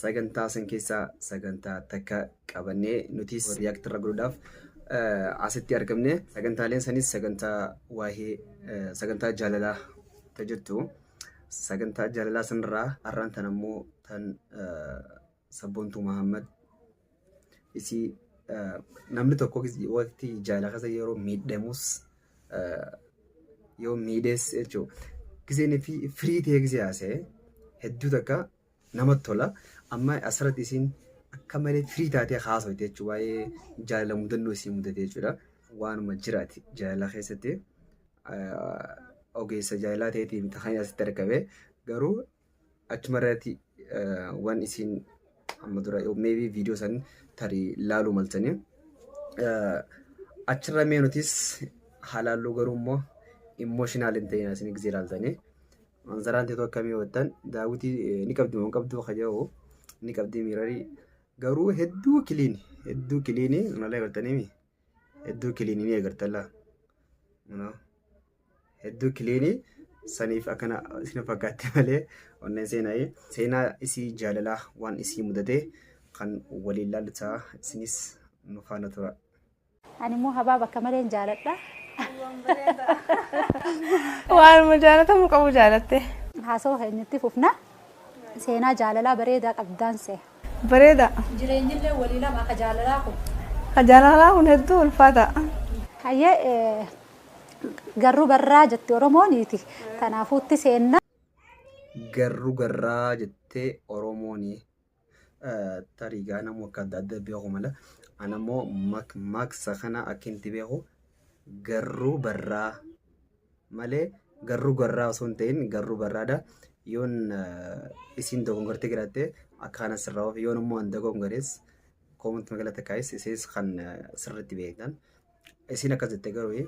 sagantaa san keessaa sagantaa takka qabannee nutis react irra godhuudhaaf eh, asitti argamne sagantaaleen sanis sagantaa waa'ee eh, sagantaa jaalalaa ta jettu sagantaa jaalalaa sanarraa har'aan tan ammoo tan eh, sabboontuu Mahammad isii eh, namni tokko gis- waqti jaalala keessa yeroo miidhamus eh, yoo miidhees jechuudha. Giseen fi firii ta'ee gisee haasa'e hedduu takka namatti tola. Amma asirratti isiin akka malee firii taatee haasofte jechuudha. Waa'ee jaalala mudannoo isii mudatee jechuudha. Waanuma jiraati jaalala keessatti ogeessa jaalalaa ta'eetii miti kan asitti argame garuu achuma irratti waan isiin amma dura meebii viidiyoo san tarii laaluu maltanii achirra mee nutis halaalluu garuu immoo immooshinaalii hin ta'in asiin gisee ilaaltanii. Manzaraan teetu akkamii wattan daawwitii eh, ni qabdi moo hin qabdu ka jedhu ni qabdi miirarii garuu hedduu kiliini hedduu kiliini malee agartaniimi hedduu kiliini ni agartalla Kunoo, hedduu kiliini saniif akkana isin fakkaatte malee onneen seenaa seenaa isii jaalalaa waan isii mudatee kan waliin laallisaa isinis nu faana tura. Ani immoo habaab akka maleen jaaladha. Waanuma jaalatamu qabu jaalatte. Haasawa keenyatti fufna. Seenaa jaalalaa bareedaa qabdaan see. Bareeda. Jireenyillee walii lama akka jaalalaa kun. Ka jaalalaa kun hedduu ulfaata. Hayyee eh, garruu barraa jetti Oromooniiti. Tanaafuutti seenna. Garru garraa jettee Oromooni. tarii gaa namuu akka adda adda beeku mala ana immoo mak maksa kana akka inti beeku garruu barraa malee garruu garraa osoo hin ta'in garruu barraadha yoon isiin dogongortee jiraatte akka kana sirraa ofi yoon immoo an dogongorees koomanti magala takkaayis isiis kan sirriitti beektan isiin akkas jette garuu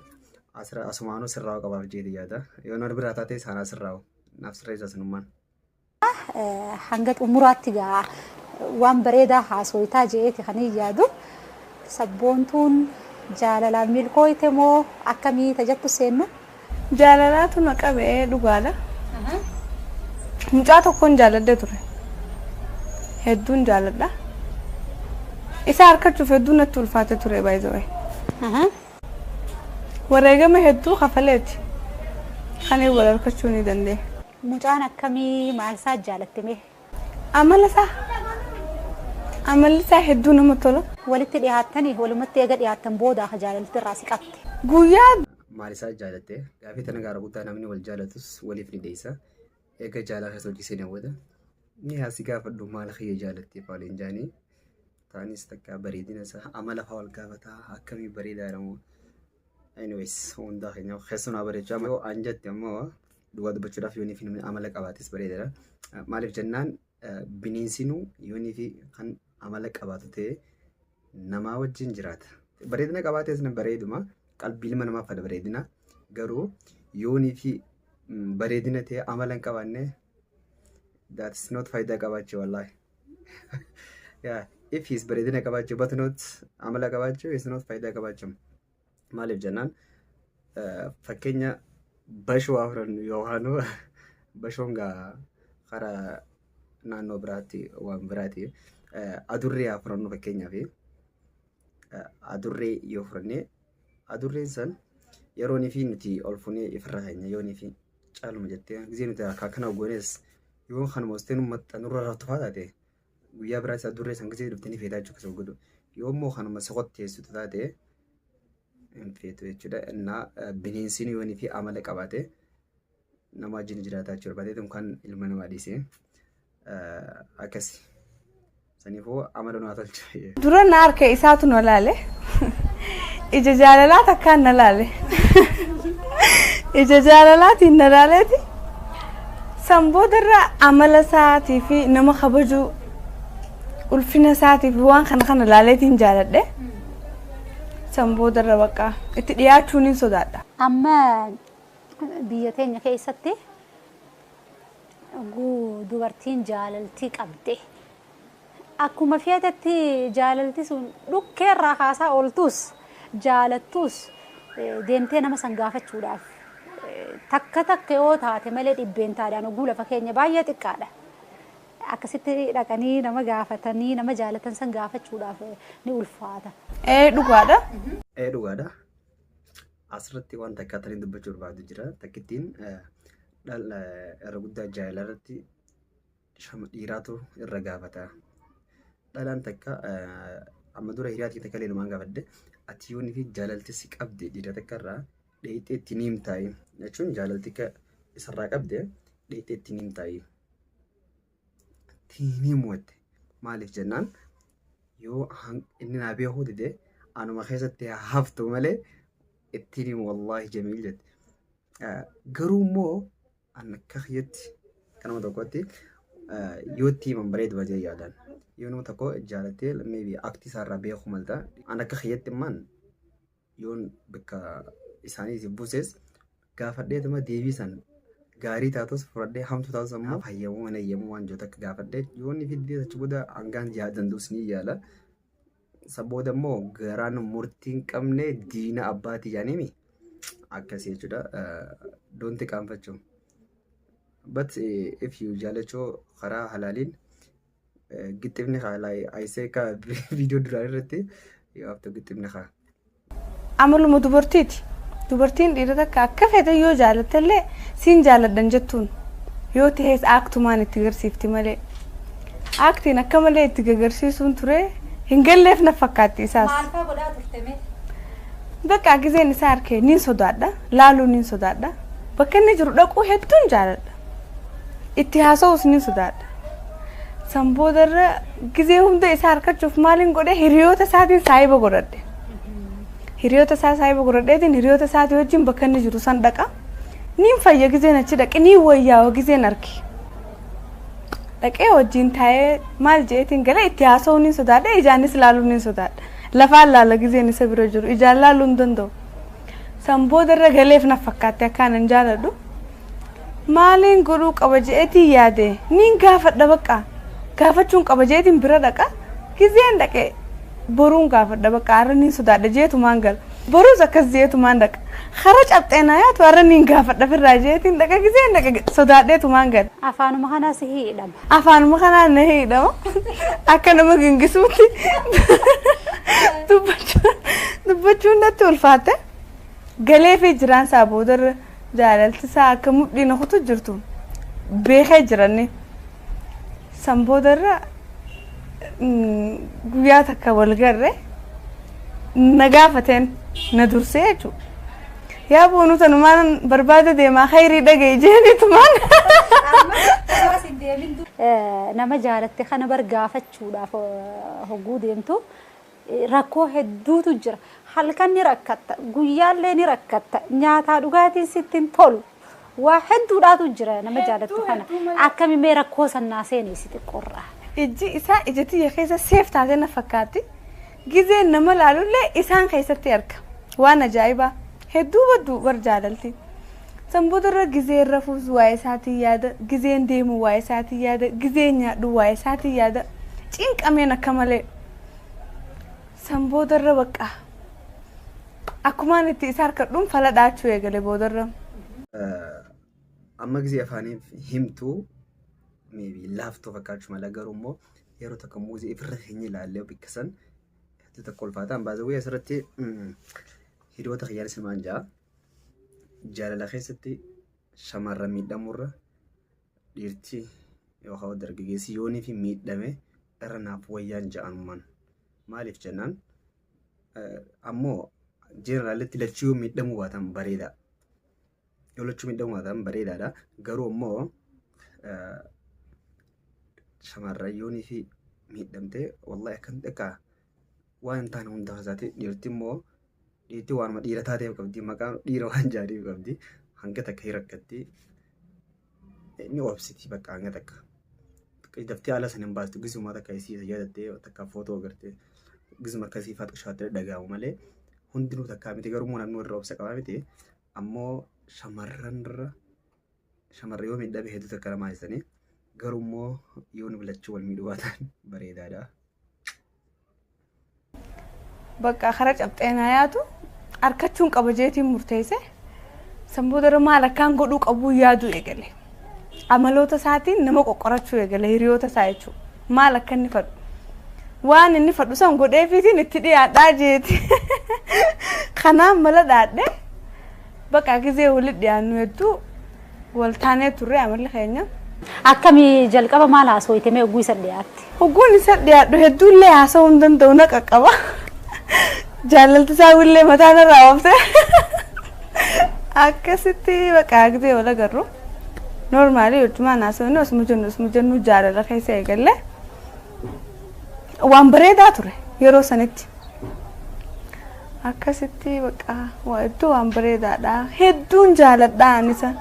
asira asumaanuu sirraa qabaaf jeeti yaada yoon wal biraa taate saanaa sirraa naaf sirreessa sinummaan. hanga xumuraatti gaa waan bareedaa haasoytaa je'eeti kan hin yaadu sabboontuun jaalalaan milkooyte moo akkamii tajattu seennu? Jaalalaatu na qabe dhugaadha. Mucaa tokkoon jaaladhee ture. Hedduun jaaladha. Isa harkachuuf hedduun natti ulfaate ture baay'ee. Wareegama hedduu kafaleeti kan wal harkachuu ni dandeenye. Mucaan akkami maal isaa jaalatte mee. Amala isaa amalli isaa hedduu nama tola. Walitti dhihaattani walumatti eega dhihaattan booda ka jaalalti irraa si qabte. Guyyaa. Maal isaa jaalatte gaafii tana gaara guddaa namni wal jaalatus waliif ni dheessa eega jaalala keessa hojii seenee booda ni haa si gaafadhu maal kiyya jaalatte fa'aa waliin jaanii taanis takka bareedina isaa amala fa'aa wal gaafataa akkamii bareedaadha moo Anyways, hundaa keenya keessan haa bareechu. Amma yoo aan jette ammoo dhugaa dubbachuudhaaf yoonii fi namni amala qabaates bareedadha. Maaliif jennaan bineensinuu yoonii fi kan amala qabaatu ta'e namaa wajjin jiraata. Bareedina qabaates na bareeduma qalbii ilma namaaf fada bareedina garuu yoonii fi bareedina ta'e amala hin qabaanne that is not faayidaa qabaachuu wallaahi. Yeah, if he's bareedina qabaachuu but not amala qabaachuu is not faayidaa qabaachuu maaliif jennaan eh, fakkeenya bashoo haa fudhannu yookaan bashoon gaa karaa naannoo biraatti waan biraati Eh, adurree haa fudhannu fakkeenyaaf adurree yoo fudhannee adurreen san yeroo nifi nuti ol funee ifirraa keenya yoo nifi caaluma jettee gisee nuti akka akkana goones yoo kan moostee nu maxxa nurra rattufaa taate guyyaa biraa isa adurree san gisee dhufte ni feetaa jechuudha kasoo godhu yoo immoo kanuma soqotteessitu taate hin feetu jechuudha innaa bineensiin yoo nifi amala qabaate nama wajjin jiraataa jechuu barbaadeetu kan ilma namaa dhiise. Akkasi. Saniifuu amala nu haa tolcha. Dura na harka isaatu na laale. Ija jaalalaa takkaan na laale. Ija jaalalaatiin na laaleeti. San boodarra amala isaatii fi nama kabajuu ulfina isaatii fi waan kana kana laaleetiin jaaladhe. San boodarra bakka itti dhiyaachuun hin sodaadha. Amma Biyya teenya keessatti yogguu dubartiin jaalaltii qabde akkuma feetetti jaalalti sun dhukkee irraa kaasaa ooltuus jaalattuus deemtee nama san gaafachuudhaaf takka takka yoo taate malee dhibbeentaadhaan yogguu lafa keenya baay'ee xiqqaadha. Akkasitti dhaqanii nama gaafatanii nama jaalatan san gaafachuudhaaf ni ulfaata. Ee dhugaadha. Ee dhugaadha. Asirratti waan takka tanii dubbachuu barbaadu jira. Takkittiin dhala irra guddaa jaalala irratti shama dhiiraatu irra gaafata. Dhalaan takka amma dura hiriyaa takka illee numaan gaafadde ati yoonii fi jaalalti si qabde dhiira takka irraa dheeyxee itti ni himtaayi jechuun jaalalti isarraa qabde dheeyxee itti ni himtaayi. tiinii mu'atte maaliif jennaan yoo inni naa beekuu dide anuma keessatti haa haftu malee ittiin himu wallaahi jamiil jette. Garuu immoo an akka kiyyatti kan nama tokkotti yoo itti himan bareedu baatee yaadan. Yoo nama tokko jaalattee maybe aktii isaarraa beekuu malta an akka kiyyatti immaan yoon bakka isaaniitiif buuses gaafadheetuma deebii san gaarii taatus fudhadhee hamtu taatus ammoo hayyamuu hin hayyamuu waan jiru takka gaafadhee yoon ni fiddee achi booda hangaan yaa danda'us ni yaala. San booda immoo garaan murtii hin qabne diina abbaati yaanimi akkasii jechuudha. Doonti qaanfachuu. But if you jaalachuu karaa halaaliin Gixxifni kaa like I say kaa viidiyoo duraa irratti you have to gixxifni kaa. Amaluma dubartiiti. Dubartiin dhiira takka akka fedhe yoo jaalatte illee siin jaaladhan jettuun yoo ta'es aaktumaan itti garsiifti malee. Aaktiin akka malee itti gagarsiisuun ture hin galleef na fakkaatti isaas. Maal fa'aa godhaa turte mee? Bakka gizeen isaa harkee niin sodaadha. Laaluu niin sodaadha. Bakka inni jiru dhaquu hedduun jaaladha. Itti haasa'uus ni sodaadha. San boodarra gizee hunda isaa harkachuuf maaliin godhe hiriyoota isaatiin saahiba godhadhe. Hiriyoota isaa saahiba godhadheetiin hiriyoota isaatii wajjin bakka inni jiru san dhaqa. Niin fayya gizeen achi dhaqe niin wayyaawa gizeen arge. Dhaqee wajjin taa'ee maal jeetiin galee itti haasa'uu niin sodaadha ijaanis laaluu niin sodaadha. Lafaan laala gizeen isa bira jiru ijaan laaluu hin danda'u. San boodarra galeef na fakkaatti akkaanan jaaladhu. Maaliin godhuu qaba je'eetiin yaade niin gaafadha baqqa. Gaafachuun qaba je'eetiin bira dhaqa. Gizeen dhaqe boruun gaafadha baqqa arra niin sodaadha je'eetumaan gala. Boruus akkas je'eetumaan dhaqa. Kara caphxee naa yaatu arra niin gaafadha firraa je'eetiin dhaqa gizeen dhaqe sodaadheetumaan gala. Afaanuma kanaa si hiidhama. Afaanuma kanaa na hiidhama. Akka nama gingisuutti dubbachuun natti ulfaatte. Galeefii jiraan isaa boodarra. Jaalalti isaa akka mudhii na kutu jirtu beekee jiranne. San booda irra guyyaa takka wal garre na gaafateen na dursee jechuudha. Yaa boonuu tanumaan barbaada deemaa hayrii dhaga'i jeeniitumaan. Nama jaalatte kana bar gaafachuudhaaf hogguu deemtu Rakkoo hedduutu jira. Halkan ni rakkatta, guyyaallee ni rakkatta, nyaataa dhugaatiin sitti hin tolu. Waa hedduudhaatu jira nama jaalattu kana. Akkami mee rakkoo san naa seeneessi xiqqoorraa. Ijji isaa ija tiyya keessa seef taatee na fakkaatti. Gizeen nama laalullee isaan keessatti arga. Waan ajaa'ibaa. Hedduu badduu bar jaalalti. San boodarra gizeen rafuus waa'ee isaatiin yaada, gizeen deemu waa'ee isaatiin yaada, gizeen nyaadhu waa'ee isaatiin yaada. Cinqameen akka malee. San boodarra baqqaa. Akkumaan itti isa harkadhuun fala dhaachuu eegale boodarra. Amma gisee afaaniif himtu maybe laaftuu fakkaachuu mala garuu immoo yeroo tokko muuzii ifirra hin ilaalle bakka san hedduu tokko ulfaataan baasawwee asirratti hiriyoota kiyyaan simaan ja'a. Jaalala keessatti shamarran miidhamurra dhiirti yookaan dargaggeessi yoonii fi miidhame irra naaf wayyaan ja'anumaan maaliif jennaan ammoo jeneraalatti lachuu yoo miidhamuu baatan bareedaa yoo lachuu miidhamuu baatan bareedaadha garuu ammoo shamarran yoonii fi miidhamte wallahi akkan akka waan hin taane hunda haasa'ati dhiirti immoo dhiirti waanuma dhiira taatee qabdi maqaa dhiira waan jaadhee qabdi hanga takka hin rakkatti ni obsiti bakka hanga takka daftee ala sana hin baastu gizuma takka isii isa yaadattee takka footoo agartee gizuma akkasii faaxa shaattee dhaga'amu malee hundinuu takkaa miti garuu immoo namni warra obsa qabaa miti ammoo shamarran irra Shamarri yoo miidhame hedduu takka namaa hissanii garuu immoo yoo nu bilachuu wal miidhuu baatan bareedaadha. Bakka kara cabxee na yaatu harkachuun qaba jeetiin murteesse san booda irra maal akkaan godhuu qabuu yaaduu eegale. Amaloota isaatiin nama qoqqorachuu eegale hiriyoota isaa jechuudha. Maal akka inni fadhu. Waan inni fadhu san godheefiitiin itti dhiyaadhaa jeeti. Kanaan mala dhaadhee Baqaa gizee wali dhiyaannu hedduu wal taanee turre amalli keenya. Akkami jalqaba maal haasooyte mee ogguu isa dhiyaatte? Hogguun isa dhiyaadhu hedduu illee haasa'uu hin danda'u na qaqqaba. Jaalalti isaa illee mataa narraa oofte. Akkasitti baqaa gizee wal agarru. Noormaalii hojjumaan haasofne osuma jennu osuma jennu jaalala keessa eegalle. waan bareedaa ture yeroo sanitti akkasitti baqa waa hedduu waan bareedaadha hedduun jaaladha anisa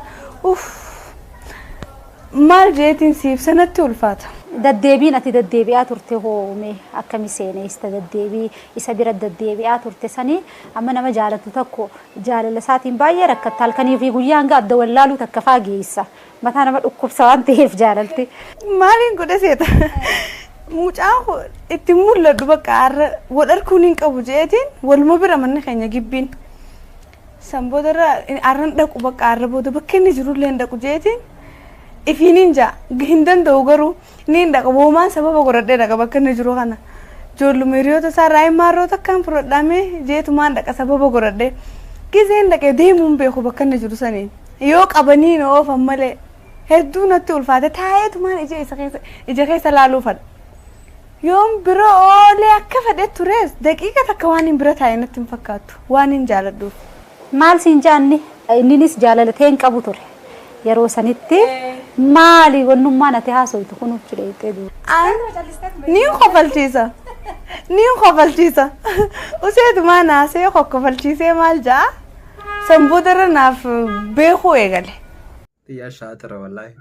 uff maal jeetiin siif sanatti ulfaata. Daddeebiin ati daddeebi'aa turte hoome akkami seeneessa daddeebii isa bira daddeebi'aa turte sanii amma nama jaalatu tokko jaalala isaatiin baay'ee rakkatta halkanii fi guyyaa hanga adda wallaaluu takka faageessa. Mataa nama dhukkubsa waan ta'eef jaalalti. Maaliin godhe seeta? Mucaan koo itti mul'adhu bakka har'a wal arkuun hin qabu je'eetiin waluma bira manni keenya gibbiin. San booda irra har'a hin dhaqu bakka har'a booda bakka inni jirullee hin dhaqu je'eetiin ifiin hin ja'a hin danda'u garuu. Niin dhaqa woomaan sababa godhadhee dhaqa bakka inni jiru kana. Ijoolluma hiriyoota isaa irraa hin maarroo takkaan fudhadhaa mee jeetumaan dhaqa sababa godhadhee. Gizeen dhaqee deemuu hin beeku bakka inni jiru saniin. Yoo qabanii na oofan malee hedduu natti ulfaate taa'eetumaan ija isa keessa ija keessa laaluu fadha. Yoon bira oolee akka fedhe tures daqiiqa takka waan hin bira taa'e natti hin fakkaattu waan hin jaaladhuuf. Maal siin ja'anni? Inninis jaalala tee hin qabu ture. Yeroo sanitti maali wannummaan ati haasoytu kun hucci dheeyxee duuba. An niin kofalchiisa niin kofalchiisa useetumaa naasee kokkofalchiisee maal ja'a san boodarra naaf beekuu eegale. Yaa shaatira wallaahi.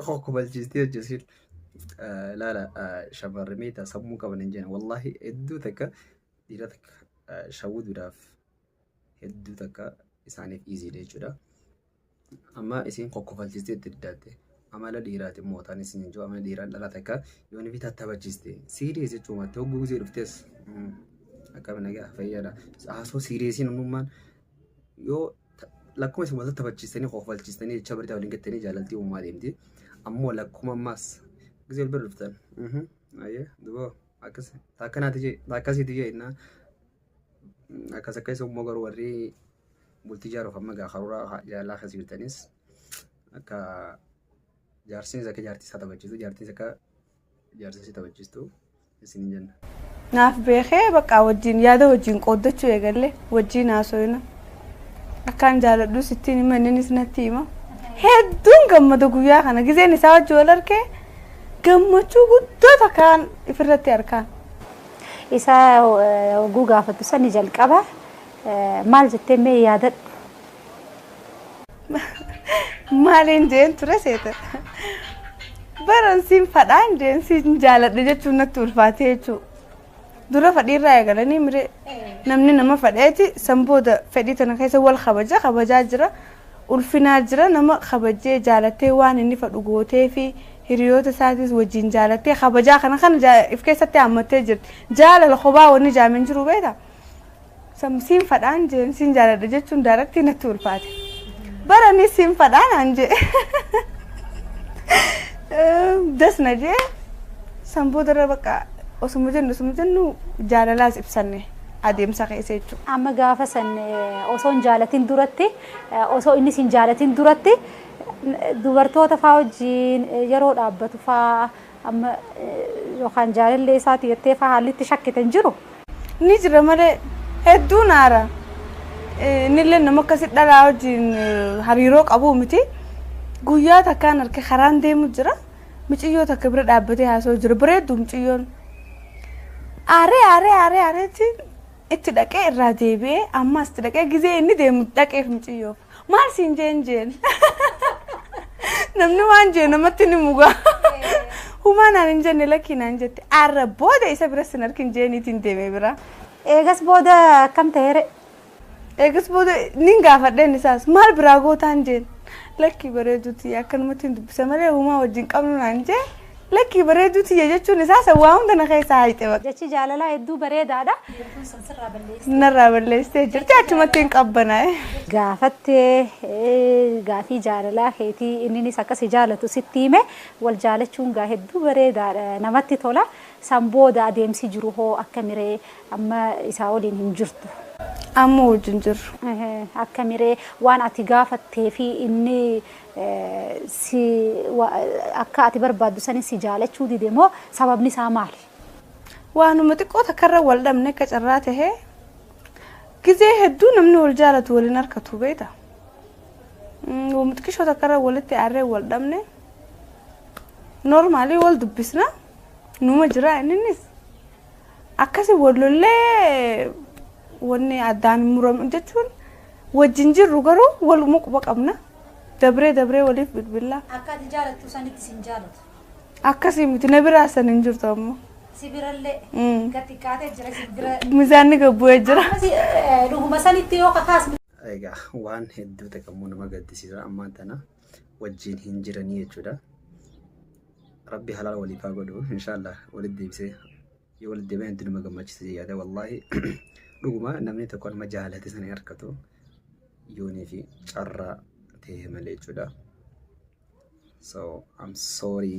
Koo kubalchiistee hojjetiin. Laala shamarri meetaa sammuu qaban hin jenna. Wallaahi hedduu takka dhiira takka shawwuduudhaaf hedduu takka isaaniif iiziidha jechuudha. Amma isiin kokkofalchiistee itti diddaatte. Amala dhiiraati mootaan isin hin jiru. Amala dhiiraan dhala takka yoo ni bitaa taphachiiste. Siiriyees jechuun maatti hogguu gisee dhuftees. Akkami nagaa fayyada. Haasoo siiriyeesiin uumummaan yoo lakkuma isin wal taphachiistanii kofalchiistanii jecha barita waliin gattanii jaalaltii uumaa deemti. Ammoo lakkuma ammaas gisee wal bira dhuftan. Ayyee duba akkas akkanaati jee akkasiiti jee innaa akkas akkas immoo garuu warri bultii jaaruuf amma gaa karoora jaalalaa keessa jirtanis akka jaarsinis akka jaartii isaa taphachiisu jaartinis akka Jaarsa ishee taphachiistu isiniin jenna. Naaf beekee bakka wajjin yaada wajjin qooddachuu eegalle wajjin haasoyna. Akkaan jaaladhu sittiin hima inninis natti hima. Hedduun gammada guyyaa kana gizeen isaa wajjin wal argee gammachuu guddoo takkaan ifirratti arkaan. Isaa oguu gaafattu sani jalqaba maal jettee mee yaadadhu. Maaliin jeen ture seeta. Baran siin fadhaan jeen siin jaaladha jechuun natti ulfaatee jechuudha. Dura fadhiirraa eegalanii mire namni nama fadheeti san booda fedhii tana keessa wal kabaja kabajaa jira. Ulfinaa jira nama kabajee jaalatee waan inni fadhu gootee fi hiriyoota isaatis wajjin jaalatee kabajaa kana kana if keessatti hammattee jirti. Jaalala kophaa wanni jaameen jiru beektaa? Sam siinfadhaan jeen siin jaaladha jechuun daaraktii natti ulfaate. Bara ni siinfadhaan aan jee. Das na jee san boodarra bakka osuma jennu osuma jennu jaalalaas ibsanne adeemsa keessa jechuudha. Amma gaafa san osoo hin jaalatin duratti osoo innis hin jaalatin duratti dubartoota faa wajjin yeroo dhaabbatu faa Amma yookaan jaalallee isaati jettee faa haalli itti shakkite hin jiru? Ni jira malee hedduun aara. Innillee nama akkasi dhalaa wajjin hariiroo qabuu miti. Guyyaa takkaan arke karaan deemu jira. Miciyyoo takka bira dhaabbatee haasa'u jira. Bareeddu miciyyoon. Aaree aaree aaree aareetiin itti dhaqee irraa deebi'ee ammas itti dhaqee gizee inni deemu dhaqeef miciyyoof maal siin jeen jeen namni waan jee namatti ni mugaa humaa naan hin jenne lakkii naan jette arra booda isa bira sin arkin jeeniitiin deeme bira Eegas booda akkam ta'eere? eegas booda nin gaafadheen isaas maal biraa gootaan jeen lakkii bareeduuti akkanumatti hin dubbisa malee humaa wajjin qabnu naan jee Lakkii bareedduu tiyya jechuun isaa san waa hunda na keessaa hayxe baqa. Jechi jaalalaa hedduu bareedaadha. Bidiruu san sirraa balleessitee. Narraa balleessitee jirti achumatti hin qabbanaa'e. Gaafattee gaafii jaalalaa keetii inninis akka si jaalatu sitti hime wal jaalachuun gaa hedduu bareedaadha namatti tola san booda adeemsi jiru hoo akkamiree amma isaa waliin hin jirtu. Amma wajjin jirru. Akkamiree waan ati gaafattee fi inni si wa, akka ati barbaaddu sani si jaalachuu dide moo sababni isaa maali? Waanuma xiqqoo takkarra wal dhabne akka carraa tahee gizee hedduu namni wal jaalatu wal hin harkatu beekta. Mm, Waanuma xiqqishoo takkarra walitti aarree wal dhabne noormaalii wal dubbisna numa jira inninis. Akkasi wal lollee wanni addaan hin muramu jechuun wajjin jirru garuu waluma quba qabna. Dabree dabree waliif bilbilla. Akka ati jaalattu sanitti sin jaalatu. Akkasii miti na biraa san hin jirtu ammoo. Si birallee Mm. gad xiqqaatee jira si bira. Mizaanni gad bu'ee jira. Akkasi eh, dhuguma sanitti yoo kakaasnu Egaa waan hedduu ta'e kan immoo nama gaddisiisa ammaan tana. wajjiin hin jiranii jechuudha. Rabbi halaal waliif haa godhu inshaallah walitti deebisee yoo walitti deebi'an itti nama gammachiisa jedhee yaada wallaahi dhuguma namni tokko nama jaalate sana hin argatu yoonii fi carraa ta'e malee jechuudha. So I'm sorry.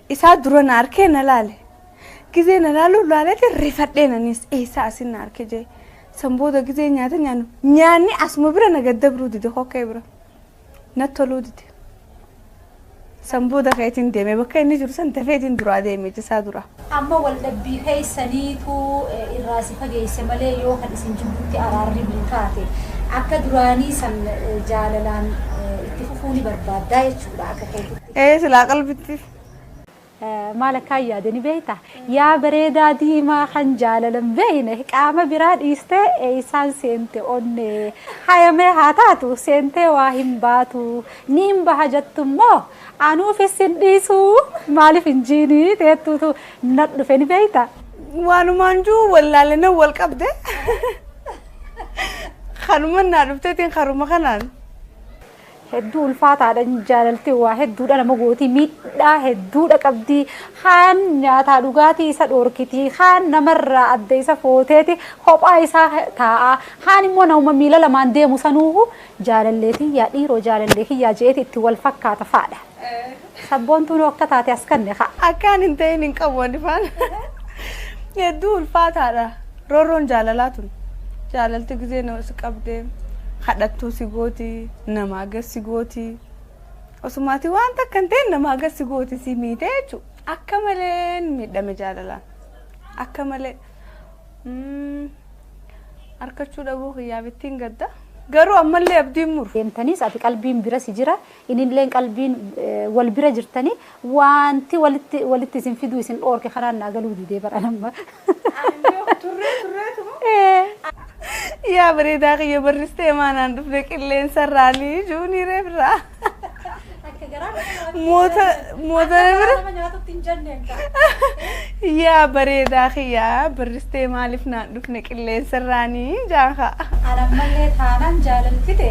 isaa dura na arkee na laale gizee na laalu laaleti rifadheen anis eessaa asin na arke jee san booda gizee nyaata nyaannu nyaanni asuma bira na gaddabruu dide kokkee bira na toluu dide san booda kaetin deeme bakka inni jiru san tafeetiin duraa deeme jisaa dura. amma waldhabbii keessaniitu irraa si fageesse malee yoo kan isin jidduutti araarri bu'u taate akka duraanii san jaalalaan itti fufuu ni barbaaddaa jechuudha akka keetti. Ee silaa qalbitti. Maal akkaan yaade ni beekta? Yaa bareedaa diimaa kan jaalala hin beekne qaama biraa dhiistee eessaan seente onnee hayamee haa taatu seentee waa hin baatu niin baha jettu immoo anuufis hin dhiisu maaliif hin jiinii teettuutu na dhufe ni beekta? Waanumaan jiru wallaalee nan wal qabde. Kanuman naa dhufteetiin karuma kanaan. hedduu ulfaataadha jaalalti waa hedduudha nama gootii miidhaa hedduudha qabdii kaan nyaataa dhugaatii isa dhoorkitii kaan namarraa adda isa footeeti kophaa isaa taa'aa kaan immoo nama miila lamaan deemu sanuuhu jaalallee kiyyaa dhiiroo jaalallee kiyyaa jeeti itti wal fakkaata faadha. Sabboontuun akka taate as kanne kaa. Akkaan hin ta'in hin qabu ani faan. Hedduu ulfaataadha. Roorroon jaalalaa tun. Jaalalti gizee nama si qabdee kadhattuu si gooti namaa gad si gooti. Osumaati waan takka hin ta'in namaa gad si gooti si miite jechuudha. Akka malee miidhame jaalalaan. Akka malee. Mm, Harkachuu dhabuu kiyyaaf ittiin gadda. Garuu ammallee abdiin muru. Deemtaniis ati qalbiin bira si jira Inilleen qalbiin wal bira jirtanii waanti walitti walitti isin fiduu isin dhoorke karaan naa galuu didee bar anamma. Turree turreetu moo? Yaa bareedaa kiyya barristee maanaan dhufne qilleensa irraanii juunii reefirraa. Akka garaa Moota Mootana bira. Nama nyaatutti hin jenneen kaa. Yaa bareedaa kiyyaa barristee maaliif naan dhufne qilleensarraanii jaaha. Anan mallee taanaan jaalalfite.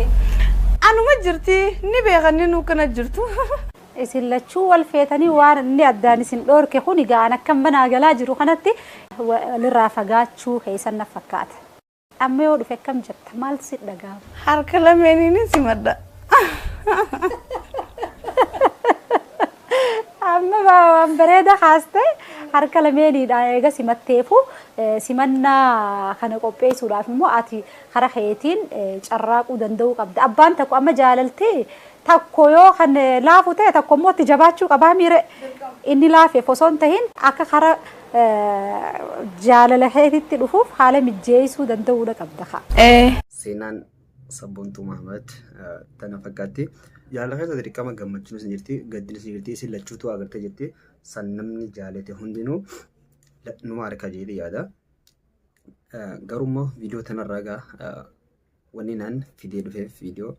Anuma jirti ni beekan ni nuukkana jirtu. Isin lachuu wal feetanii waan inni addaan isin dhoorke kun egaa an akkan banaa galaa jiru kanatti walirraa fagaachuu keessan na fakkaata. Amma yoo dhufe akkam jetta? Maal si dhaga'ama? Harka lameeniin simadha. Amma waan bareeda kaaste harka lameeniidha eega simatteefu simannaa kana qopheessuudhaaf immoo ati kara keetiin carraaquu danda'uu qabda. Abbaan tokko amma jaalalti takko yoo kan laafu ta'e tokko immoo itti jabaachuu qabaa miire inni laafeef osoo hin tahin akka kara Jaalala keetitti dhufuuf haala mijjeessuu danda'uudha qabda kaa. Seenaan Sabboontuu Mahamat tana fakkaatti. Jaalala keessa dirqama gammachuunis ni jirti, gaddinis ni jirti. Isin lachuutu agartee jirti. San namni jaalate hundinuu numa arka jedhee yaada. Garuu immoo viidiyoo tanarraa egaa Wanni naan fidee dhufeef viidiyoo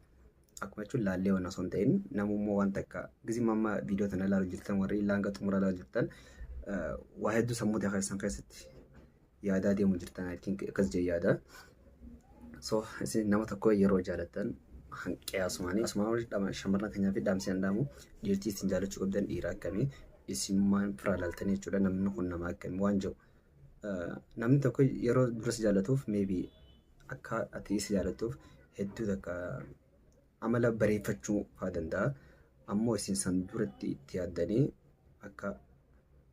akkuma jechuun laallee waan osoo hin ta'in namummoo waan takka gizima amma viidiyoo tana ilaalu jirtan warri ilaa hanga xumura ilaalu jirtan waa hedduu sammuu ta'e keessan keessatti yaadaa deemu jirtan I think akkas jee yaada. So isin nama tokko yeroo jaalattan hanqiyaasumaanii asumaan shamarran keenyaa fi dhaamsi hin dhaamu dhiirtii isin jaalachuu qabdan dhiira akkamii isin maan firaa laaltanii jechuudha namni kun nama akkamii waan jiru. Namni tokko yeroo dura si jaallatuuf maybe akka ati isa jaallattuuf hedduu takka amala bareeffachuu fa'aa danda'a. Ammoo isin san duratti itti yaaddanii akka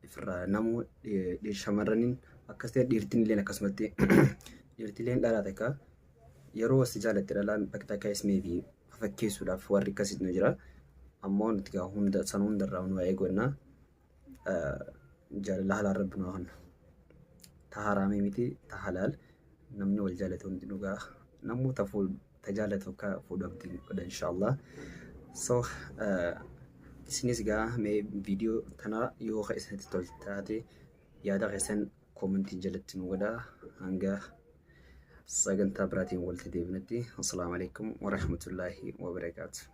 ifirraa namuu shamarraniin akkas ta'e dhiirtiin illee akkasumatti dhiirtileen dhalaa takka yeroo si jaallatte dhalaan bakka takka is maybe fakkeessuudhaaf warri akkasii nu jira. Ammoo nuti gaa hunda san hundarraa nu waa eegannaa. jaalalli halaal rabbi nu haa kennu. Ta haraamii miti ta halaal namni wal jaalatu hundi dhugaa namuu ta fuudhu ta jaalatu akka fuudhu abdiin godha inshaallah. So isinis gaa mee viidiyoo tana yoo ka isinitti tol taate yaada keessan koomentii jalatti nu godha hanga sagantaa biraatiin walitti deebinutti. Assalaamu alaikum warahmatullaahi wabarakaatu.